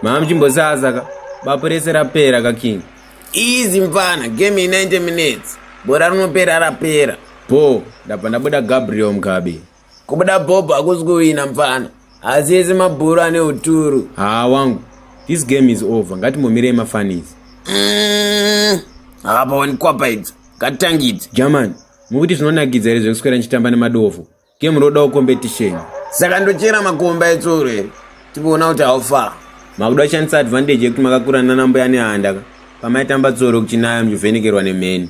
mama chimbosaza ka bapo rese rapera ka king easy mfana game ye 90 minutes bora rinopera rapera bho ndabva ndabuda gabriel mugabe Kubuda Bob hakusi kuwina mpfana. Asi ese mabhuru ane uturu. Haa wangu. This game is over. Ngatimbomirei mafanizi. Mm, hapaoni kwapa idzi. Ngatitangidze. German, mukuti zvinonakidza here zvekuswera ndichitamba nemadofo? Game rodawo competition. Saka ndochera makomba etsuro here? Tipoona kuti how far. Makuda kushandisa advantage yekuti makakura nana mbuya nehanda ka. Pamaitamba tsoro kuchinaya muchivhenekerwa nemheni.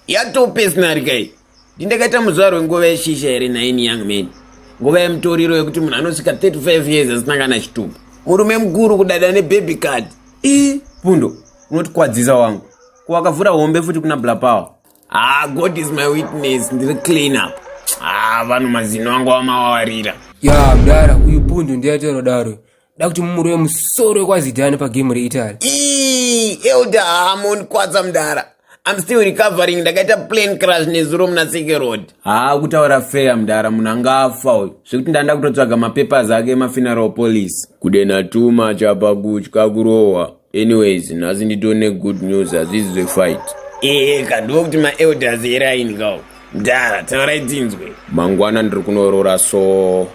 Yatope sinarika iyi. ndindakaita muzuva rwenguva yeshisha here nhaini young man nguva yemutoriro yekuti munhu anosvika 35 years asina kana chitubu murume mukuru kudada nebaby card i pundo unotikwadzisa wangu kuwakavhura hombe futi kuna blapower ah god is my witness ndiri clean up ah vanhu mazino angu amawawarira ya mdara uyu pundu ndiyaitero daro da kuti mumuri wemusoro wekwazidhani pagemu reitaly elder hamon kwadza mdara im still recovering ndakaita plan crash nezuro muna seke road haa kutaura feya mdara munhu anga afa uyu zvekuti ndanda kutotsvaga mapapers ake emafuneral police kudenatuma chapa kutya kurohwa anyways nhasi nditone good news hazvizi zvefight ee eh, kandivo kuti maelders eraini kao ndara taurai tinzwe mangwana ndiri kunoroora so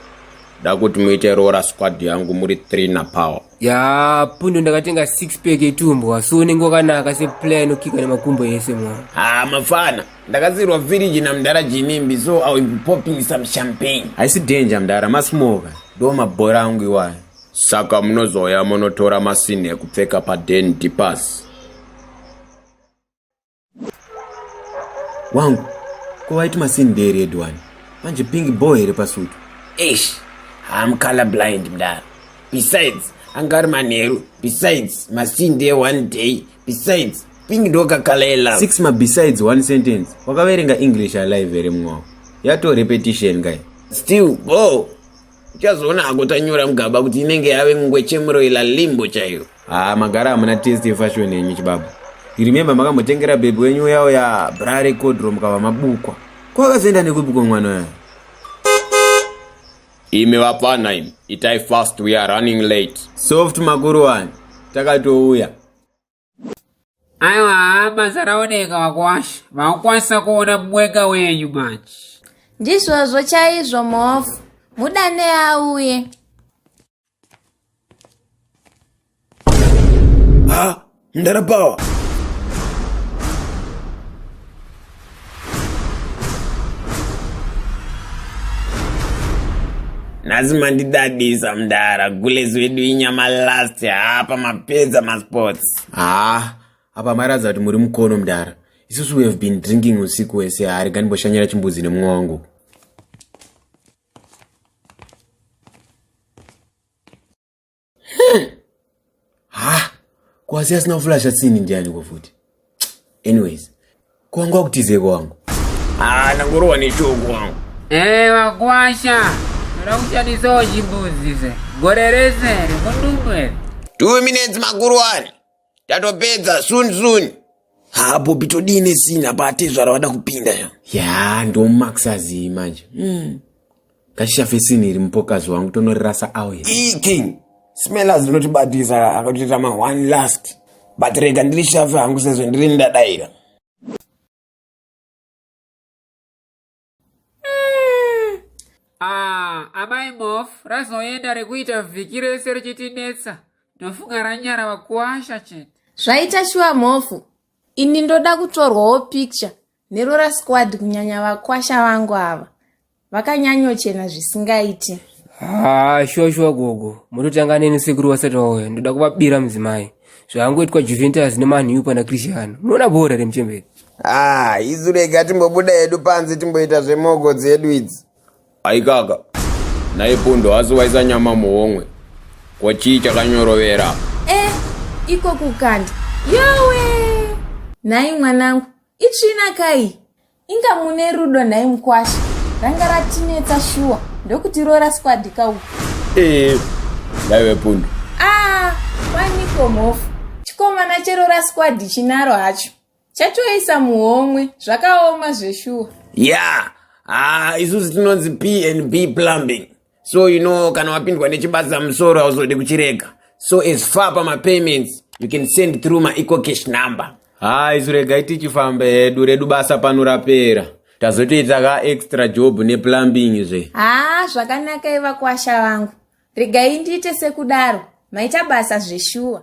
da kuti muite roora squad yangu muri three napower ya pundo ndakatenga six pack etumbwa so unenge wakanaka seplayer inokika nemakumbo ese mwa ha mafana ndakazirwa village namdara jinimbi so i will be popping some champagne haisi danger mdara masmoka ndo mabhora angu iwayo Saka munozouya monotora masini ekupfeka paden dipas. Wangu, ko waiti masini ndeeredu wani? Manje pingi bho here pasutu? Eish, I'm color blind mdara. Besides, anga ari manheru. Besides, masini ndee one day. Besides, pingi ndokakala yelove. Six ma besides one sentence. Wakaverenga English alive here mumwe wako? Yato repetition kai. Still, bho! uchazoona hako tanyora mugaba kuti inenge yave ngwechemuro ila limbo chaiyo haa magara hamuna test yefashoni yenyu chibaba iremembe makambotengera bhebhi wenyu uya uya bra rekodro mukava mabukwa kwakazoenda nekupi kwemwana uya imi vapfana imi itai fast we are running late soft makuru wani takatouya aiwa basa raoneka vakwasha vakwanisa kuona mweka wenyu manje ndizvozvo chaizvo mhofu mudane auye ha ndarapawa nhasi mandidadisa mdara gulezi wedu inyama last hapa mapedza masports haa ah, apa mairadza kuti muri mukono mdara isusu we have been drinking usiku wese haari ganimboshanyira chimbuzi nemumwe wangu ha kwasi asina kuflasha tsini ndiani ko futi anyways kwanga kutize kwangu ah nangorowa neshoko wangu eh wakwasha rakuchadisawo chimbuzi se gore rese rikundumbu ere two minutes makuru wani tatopedza soon soon ha bobi todii nesini apa atezvara vada kupinda ya ya ndomaxazii manje mm. ngashafe sini iri mupokazi wangu tonorirasa awe king smellers rinotibatisa akatoita ma one last but rega ndiri shafe hangu sezvo ndiri ndadaira mm. ah, amai mof razoenda rekuita vhiki rese richitinetsa ndofunga ranyara vakuwasha chete zvaita shuwa mhofu ini ndoda kutorwawo picture nerora squad kunyanya vakwasha vangu ava vakanyanyochena zvisingaiti haa ah, shuwa shuwa gogo mototanga neni sekuru wasati wauya ndoda kuvabira mudzimai zvaangoitwa juventus nemanhiu pana cristiano munoona bhora remuchemberi Ah, isu rega timbobuda hedu panze timboita zvemogo dzedu idzi. Aikaka. Naye pundo asi waisa nyama muhomwe. Ko chii chakanyorovera? Eh, iko kukanda. Yowe! Nhai mwanangu, itsvina kai? Inga mune rudo nhai mkwasha. Ranga ratinetsa shuwa ndokuti rora squad ka uku. Eh, ndaive pundo. Ah, kwaniko mhofu. Chikomana cherora squad chinaro hacho. chatoisa muhomwe zvakaoma zveshuwa yeah ah isusu tinonzi p and b plumbing so you know kana wapindwa nechibasa musoro hauzodi kuchirega so as far pamapayments you can send through maecocash number ha isu regai tichifamba hedu redu basa pano rapera tazotoita ka extra job neplumbing zve haa zvakanaka ivakwasha vangu regai ndiite sekudaro maita basa zveshuwa